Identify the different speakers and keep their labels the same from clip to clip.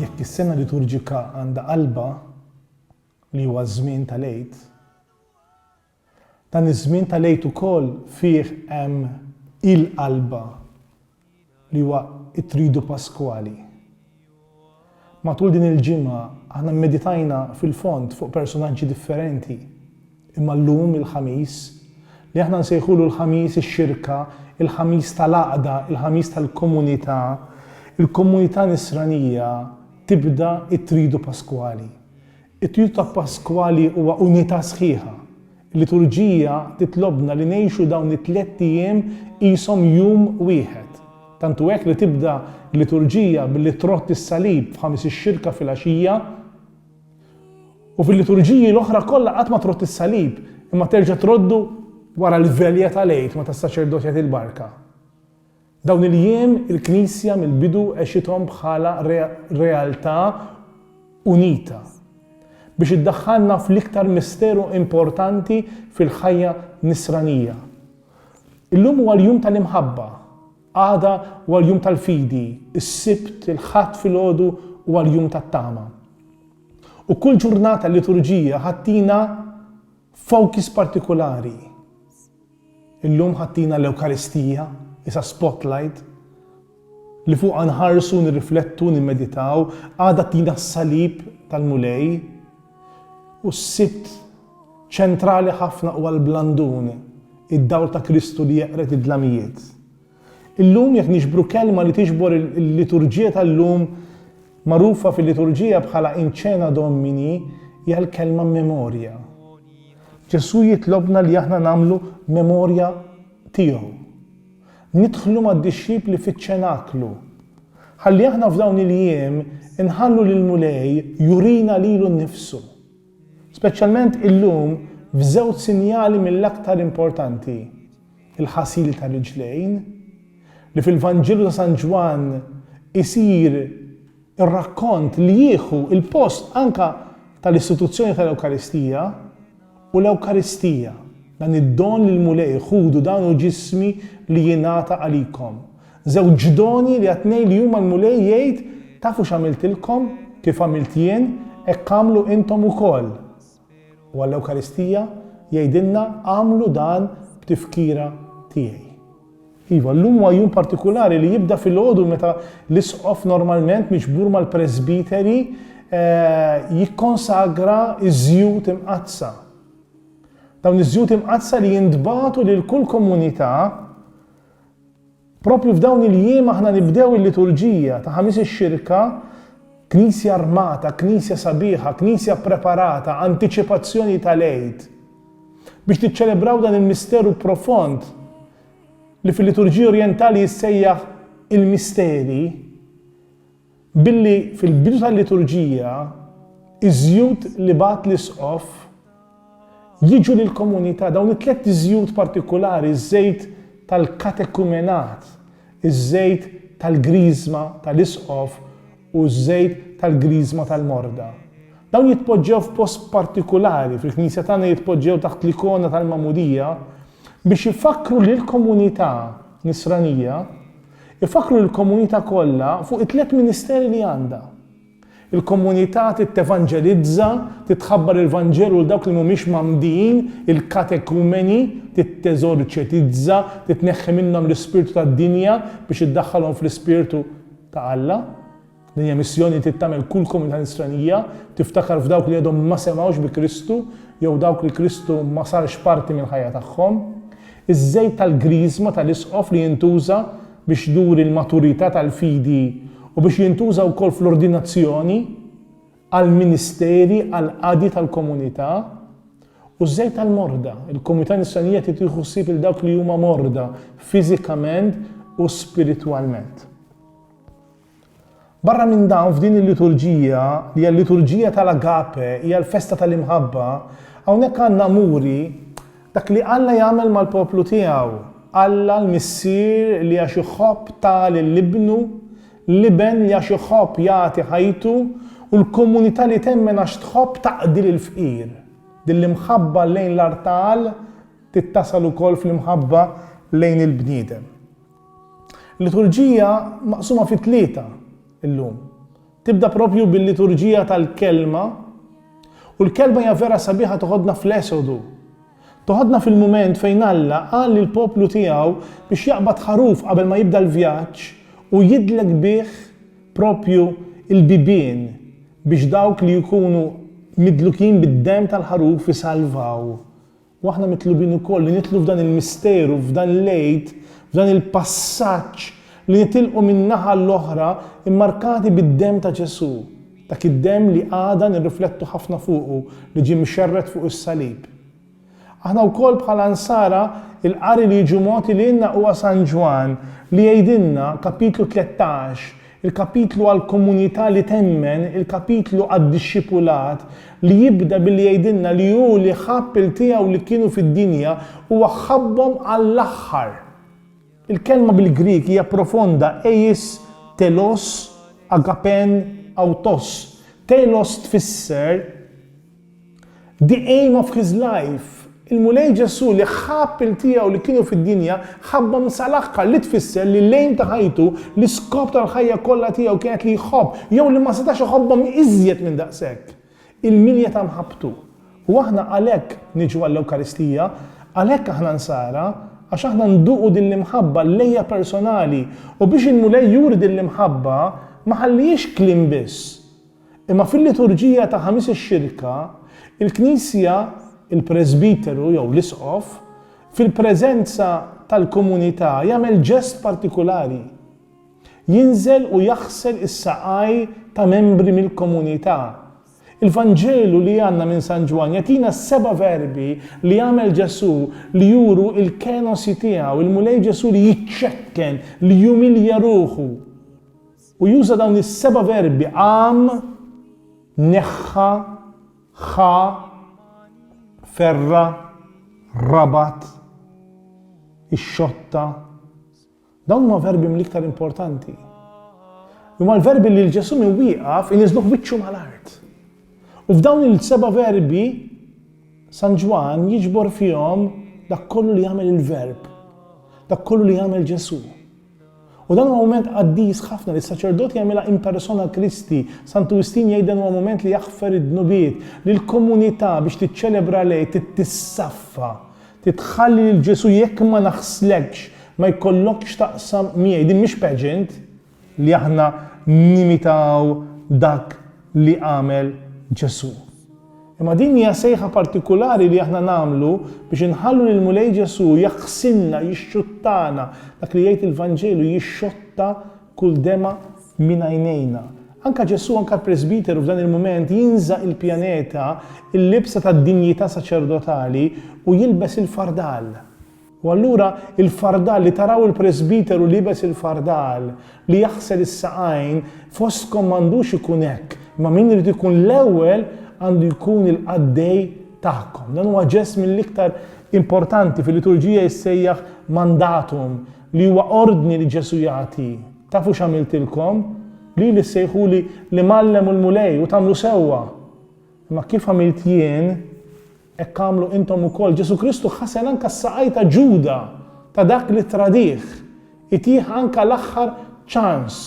Speaker 1: Jekk is-sena liturġika għandha qalbha li huwa ż-żmien tal-Għid, dan iż-żmien tal-Għid ukoll fih hemm il-qalbha li huwa t-Tridu Paskwali. Matul din il-ġimgħa aħna mmeditajna fil-fond fuq personaġġi differenti. Imma llum, il-Ħamis, li aħna nsejħulu l-Ħamis ix-Xirka, il-Ħamis tal-Għaqda, il-Ħamis tal-Komunità, il-Komunità Nisranija tibda t-Tridu Paskwali. It-Tridu ta' Paskwali huwa unità sħiħa. Il-Liturġija titlobna li ngħixu dawn it-tlett ijiem qishom jum wieħed. Tant hu hekk li tibda l-Liturġija billi trodd is-Salib f'Ħamis ix-Xirka filgħaxija, U fil-liturġiji l-oħra kollha qatt ma trodd is-salib, imma terġa' troddu wara l-velja tal-Għid meta s-saċerdot jagħti l-barka. Dawn il-jiem il-Knisja mill-bidu għexithom bħala realtà unita biex iddaħħalna fl-iktar misteru importanti fil-ħajja Nisranija. Illum huwa l-jum tal-imħabba. Għada huwa l-jum tal-fidi, is-Sibt, il-Ħadd filgħodu huwa l-jum tat-tama. U kull ġurnata l-liturġija ħa ttina focus partikulari. Illum ħa ttina l-Ewkaristija, isa spotlight, li fuqha nħarsu, nirriflettu, nimmeditaw, għada ttina s-salib tal-Mulej, u s-Sibt Ċentrali ħafna huwa l-blandun, id-dawl ta' Kristu li jeqred id-dlamijiet. Illum jekk niġbru kelma li tiġbor il-liturġija tal-lum, magħrufa fil-liturġija bħala In Cœna Domini, hija l-kelma memorja. Ġesù jitlobna li aħna nagħmlu memorja tiegħu. Nidħlu mad-dixxipli fiċ-ċenaklu. Ħalli aħna f'dawn il-jiem inħallu lill-Mulej jurina lilu nnifsu. Speċjalment illum f'żewġ sinjali mill-aktar importanti, il-ħasil tar-riġlejn, li fil-Vanġelu ta' San Ġwann isir ir-rakkont li jieħu l-post anke tal-istituzzjoni tal-Ewkaristija, u l-Ewkaristija, dan id-don li l-Mulej, Ħudu dan hu ġismi li jingħata għalikom. Żewġ doni li għat-tnejn li huma l-Mulej jgħid, Tafu x'għamiltilkom? Kif għamilt jien, hekk agħmlu intom ukoll. U għall-Ewkaristija jgħidilna, Agħmlu dan b'tifkira tiegħi. Iva, llum huwa jum partikulari li jibda filgħodu meta l-Isqof normalment miġbur mal-Presbiteri jikkonsagra ż-żjut imqaddsa. Dawn iż-żjut imqaddsa li jintbagħtu lil kull komunità Proprju f'dawn il-jiem aħna nibdew il-Liturġija ta' Ħamis ix-Xirka, Knisja armata, Knisja sabiħa, Knisja ppreparata, antiċipazzjoni tal-Għid. Biex niċċelebraw dan il-misteru profond li fil-Liturġija Orjentali jissejjaħ il-misteri, Billi fil-bidu tal-liturġija ż-żjut li bagħat l-Isqof jiġu lill-komunità, dawn it-tliet żjut partikulari, ż-żejt tal-katekumenat, iż-żejt tal-Griżma tal-Isqof u ż-żejt tal-Griżma tal-Morda. Dawn jitpoġġew f'post partikulari fil-Knisja tagħna jitpoġġew taħt l-ikona tal-Magħmudija biex ifakkru lill-komunità Nisranija, Ifakkru lill-komunità kollha fuq it-tliet ministeri li għandha. Il-komunità trid tevanġelizza, trid tħabbar il-Vanġelu lil dawk li mhumiex mgħammdin, il-katekumeni, trid teżorċetizza, trid tneħħi minnhom l-ispirtu tad-dinja biex iddaħħalhom fl-ispirtu ta' Alla. Din hija missjoni li trid tagħmel kull komunità Nisranija, tiftakar f'dawk li għadhom ma semgħux bi Kristu jew dawk li Kristu ma sarx parti mill-ħajja tagħhom. Iż-żejt tal-Griżma tal-Isqof li jintuża biex juri l-maturità tal-fidi u biex jintuża wkoll fl-ordinazzjoni għall-ministeri għall-qadi tal-komunità. U ż-żejt tal-morda, il-komunità Nisranija trid tieħu ħsieb lil dawk li huma morda fiżikament u spiritwalment. Barra minn dan, f'din il-liturġija, li hija l-liturġija tal-agape, hija l-festa tal-imħabba, hawnhekk għandna muri dak li Alla jagħmel mal-poplu tiegħu, Alla l-Missier li għax iħobb ta lil Ibnu, l-Iben li għax iħobb jagħti ħajtu u l-komunità li temmen għax tħobb taqdi lill-fqir. Din l-imħabba lejn l-artal tittasal ukoll fl-imħabba lejn il-bniedem. Il-liturġija maqsuma fi tlieta llum. Tibda propju bil-liturġija tal-Kelma u l-Kelma hija vera sabiħa toħodna fl-Esodu. Toħodna fil-mument fejn Alla qal lil poplu tiegħu biex jaqbad ħaruf qabel ma jibda l-vjaġġ u jidlek bih propju l-bibien biex dawk li jkunu midlukin bid-demm tal-ħaruf isalvaw. U aħna mitlubin ukoll li nidħlu f'dan il-misteru, f'dan l-Għid, f'dan il-passaġġ li nitilqu min-naħa l-oħra mmarkati bid-demm ta' Ġesù, dak id-demm li għada nirriflettu ħafna fuqu li ġie mxerred fuq is-salib. Aħna wkoll bħala Nsara l-qari li jiġu mogħti lilna huwa San Ġwann li jgħidilna, kapitlu tlettax, Il-kapitlu għall-komunità li temmen, il-kapitlu għad-dixxipulat, li jibda billi jgħidilna li hu li ħabb il-tiegħu li kienu fid-dinja, huwa ħabbhom għall-aħħar. Il-kelma bil-Grieg hija profonda, eis telos agape'n autos. Telos tfisser The Aim of His Life, Il-Mulej Ġesù li ħabb il-tiegħu li kienu fid-dinja ħabbhom sal-aħħar li tfisser li l-aim ta' ħajtu, l-iskop tal-ħajja kollha tiegħu kienet li jħobb jew li ma setax iħobbhom iżjed minn daqshekk il-milja ta' mħabbtu. U aħna għalhekk niġu għall-Ewkaristija, għalhekk aħna Nsara, għax aħna nduqu din l-imħabba Lejja personali u biex il-Mulej juri din l-imħabba ma ħallihiex kliem biss, Imma fil-liturġija ta' Ħamis ix-Xirka, il-Knisja, il-presbiteru jew l-isqof, fil-preżenza tal-komunità jagħmel ġest partikulari. Jinżel u jaħsel is-saqaj ta' membri mill-komunità. Il-Vanġelu li għandna minn San Ġwann jagħtina s-seba' verbi li għamel Ġesù li juru l-kenosi tiegħu, il-Mulej Ġesù li jiċċekken, li jumilja ruħu. U juża dawn is-seba' verbi, qam, neħħa, ħa, ferra, rabat, ixxotta. Dawn huma verbi mill-iktar importanti. Huma l-verbi li l-Ġesu minn wieqaf iniżluh wiċċu mal-art. U f'dawn il-seba' verbi San Ġwan jiġbor fihom dak kollu li jagħmel il-verb, dak kollu li jagħmel Ġesu. U dan huwa mument qaddis ħafna li s-saċerdot jagħmilha in persona Christi. Santu Wistin jgħid dan huwa mument li jaħfer id-dnubiet, li l-komunità biex tiċċelebra l-Għid trid tissaffa, trid tħalli lil Ġesù jekk ma naħslekx, ma jkollokx x'taqsam miegħi. Din mhix pageant li aħna nimitaw dak li għamel Ġesù. Imma din hija sejħa partikulari li aħna nagħmlu biex inħallu lill-Mulej Ġesù jaħsilna, jixxuttana, dak li jgħid il-Vanġelu, jixxotta kull demgħa minn għajnejna. Anke Ġesù, anke l-presbiteru f'dan il-mument jinża' il-pjaneta, il-libsa tad-dinjità saċerdotali u jilbes il-fardal. U allura il-fardal, li taraw il-presbiteru liebes il-fardal, li jaħsel is-saqajn, fostkom m'għandux ikun hekk, imma min irid ikun l-ewwel għandu jkun il-qaddej tagħkom. Dan huwa ġest mill-iktar importanti fil-liturġija jissejjaħ mandatum, li huwa ordni li Ġesù jagħti. Tafu x'għamiltilkom? Lili ssejħuli l-Imgħallem u l-Mulej u tagħmlu sewwa. Imma kif għamilt jien, hekk agħmlu intom ukoll. Ġesù Kristu ħasen anke s-saqajn ta' Ġuda, ta' dak li ttradih. Itih anke l-aħħar ċans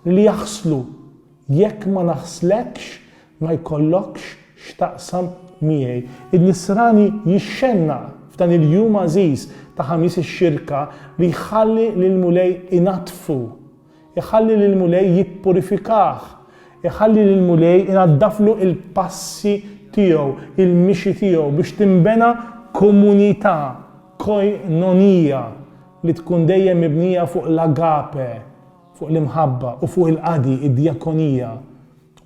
Speaker 1: li jaħslu. Jekk ma naħslekx, ma jkollokx x'taqsam miegħi. In-Nisrani jixxennaq f'dan il-jum għażiż ta' Ħamis ix-Xirka li jħalli lill-Mulej inaddfu. Iħalli lill-Mulej jippurifikah. Iħalli lill-Mulej inaddaflu l-passi tiegħu, il-mixi tiegħu biex tinbena komunità, koinonija, li tkun dejjem mibnija fuq l-agape, fuq l-imħabba, u fuq il-qadi, id-djakonija.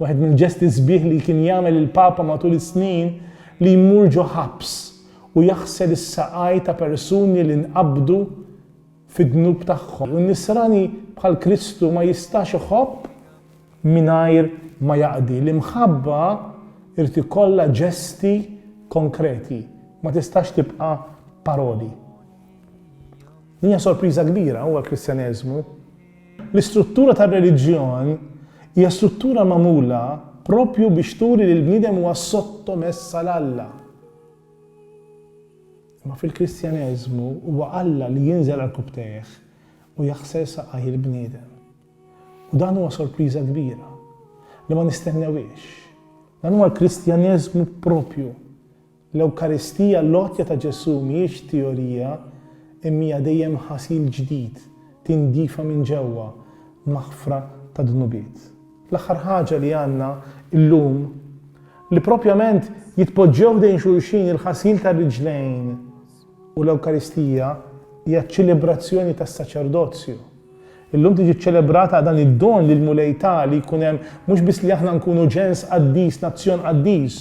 Speaker 1: Wieħed mill-ġesti sbieħ li kien jagħmel il-Papa matul is-snin li jmur ġo ħabs u jaħsel is-saqaj ta' persuni li nqabdu fid-dnub tagħhom. U n-Nisrani bħal Kristu ma jistax iħobb mingħajr ma jaqdi. L-imħabba irid ikollha ġesti konkreti, ma tistax tibqa' paroli. Din hija sorpriża kbira huwa l-Kristjaneżmu. L-istruttura tar-reliġjon hija struttura magħmula propju biex turi li l-bniedem huwa sottomess għal Alla. Imma fil-Kristjaneżmu huwa Alla li jinżel għal kubbtejh u jaħsel saqajh il-bniedem. U dan huwa sorpriża kbira, li ma nistennewhiex. Dan huwa l-Kristjaneżmu proprju. L-Ewkaristija, l-għotja ta' Ġesù, mhijiex teorija, imma hija dejjem ħasil ġdid, tindifa minn ġewwa, maħfra tad-dnubiet. L-aħħar ħaġa li għandna llum, li proprjament jitpoġġew ħdejn xulxin il-ħasil tar-riġlejn u l-Ewkaristija, hija ċ-ċelebrazzjoni tas-saċerdozju. Illum tiġi ċċelebrata dan id-don li l-Mulej ta li jkun hemm mhux biss li aħna nkunu ġens qaddis, nazzjon qaddis,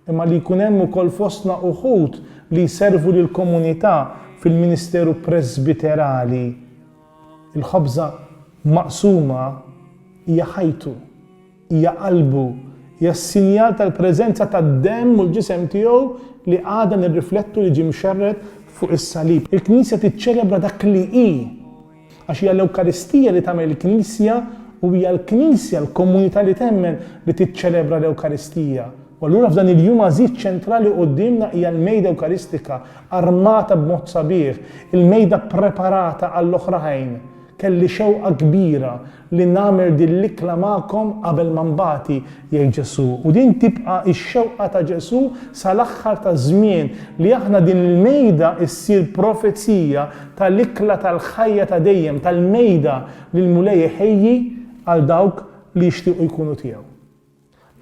Speaker 1: imma li jkun hemm ukoll fostna uħud li jservu lill-komunità fil-ministeru presbiterali. Il-ħobża maqsuma hija ħajtu, hija qalbu, hija s-sinjal tal-preżenza tad-demm u l-ġisem tiegħu li għadna nirriflettu li ġie mxerred fuq is-salib. Il-Knisja tiċċelebra dak li hi, għax hija l-Ewkaristija li tagħmel il-Knisja u hija l-Knisja, l-komunità li temmen, li tiċċelebra l-Ewkaristija. U allura f'dan il-jum għażiż ċentrali quddiemna hija l-Mejda Ewkaristika, armata b'mod sabiħ, il-Mejda ppreparata għall-oħrajn. Kelli xewqa kbira li nagħmel din l-ikla magħkom qabel ma nbati, jgħid Ġesù. U din tibqa' x-xewqa ta' Ġesù sal-aħħar taż-żmien, li aħna din il-Mejda ssir profezija tal-ikla tal-ħajja ta' dejjem, tal-Mejda li l-Mulej iħejji għal dawk li jixtiequ jkunu tiegħu.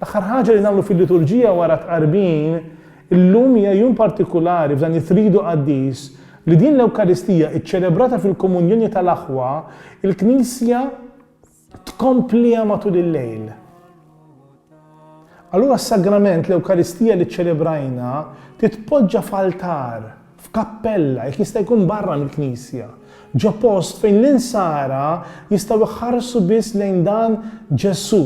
Speaker 1: L-aħħar ħaġa li nagħmlu fil-liturġija wara t-tqarbin, illum hija jum partikulari f'dan it-Tridu Qaddis, li din l-Ewkaristija iċċelebrata fil-Komunjoni tal-Aħwa, il-Knisja tkompliha matul il-lejl. Allura s-Sagrament, l-Ewkaristija li ċċelebrajna, titpoġġa f'altar, f'kappella, jekk jista' jkun barra mill-knisja, ġo post fejn l-insara jistgħu jħarsu biss lejn dan Ġesù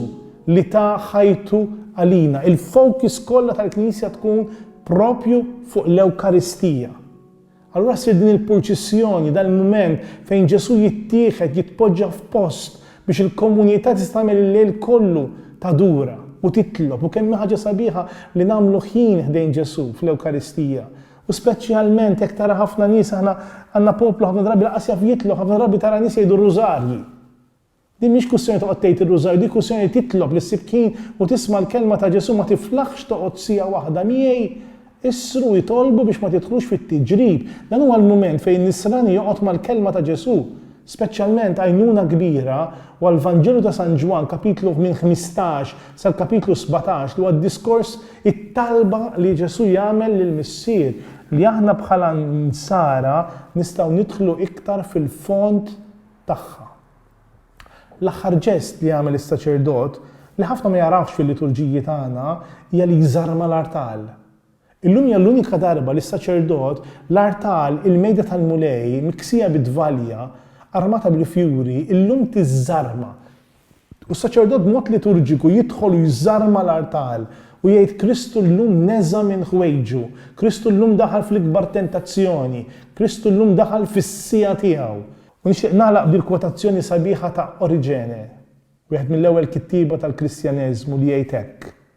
Speaker 1: li ta ħajtu għalina. Il-focus kollha tal-knisja tkun propju fuq l-Ewkaristija. Allura ssir din il-purċissjoni, dal-mument fejn Ġesù jittieħed, jitpoġġa f'post biex il-komunità tista' tagħmel il-lejl kollu tadura u titlob u kemm hi ħaġa sabiħa li nagħmlu ħin ħdejn Ġesù fl-Ewkaristija. U speċjalment jekk tara ħafna nies, aħna għandna poplu ħafna drabi lanqas jaf jitlob, ħafna drabi tara nies jgħidu r-rużarji. Din mhix kwistjoni toqgħod tgħid ir-rużarju, din kwistjoni li titlob li ssib ħin u tisma' l-kelma ta' Ġesù, ma tiflaħx toqgħod siegħa waħda miegħi, issru u itolbu biex ma tidħlux fit-tiġrib. Dan huwa l-mument fejn nisrani joqgħod mal-kelma ta' Ġesù. Speċjalment għajnuna kbira huwa l-Vanġelu ta' San Ġwann, kapitlu minn ħmistax sal-kapitlu sbatax, li huwa d-diskors, it-talba li Ġesù jagħmel lill-Missier, li aħna bħala Nsara nistgħu nidħlu iktar fil-fond tagħha. L-aħħar ġest li jagħmel is-saċerdot, li ħafna ma jagħrafx fil-liturġiji tagħna, hija li jżarma l-artal. Illum hija l-unika darba li s-saċerdot, l-art tal, il-mejda tal-Mulej, miksija bi dvalja, armata bil-fjuri, illum tiżżarma. U s-saċerdot b'mod liturġiku jidħol u jżarma l-art tal, u jgħid Kristu llum neża' minn ħwejġu, Kristu llum daħal fl-ikbar tentazzjoni, Kristu llum daħal fis-siegħa tiegħu. U nixtieq nagħlaq bil-kwotazzjoni sabiħa ta' Oriġene, wieħed mill-ewwel kittieba tal-Kristjaneżmu li jgħid hekk,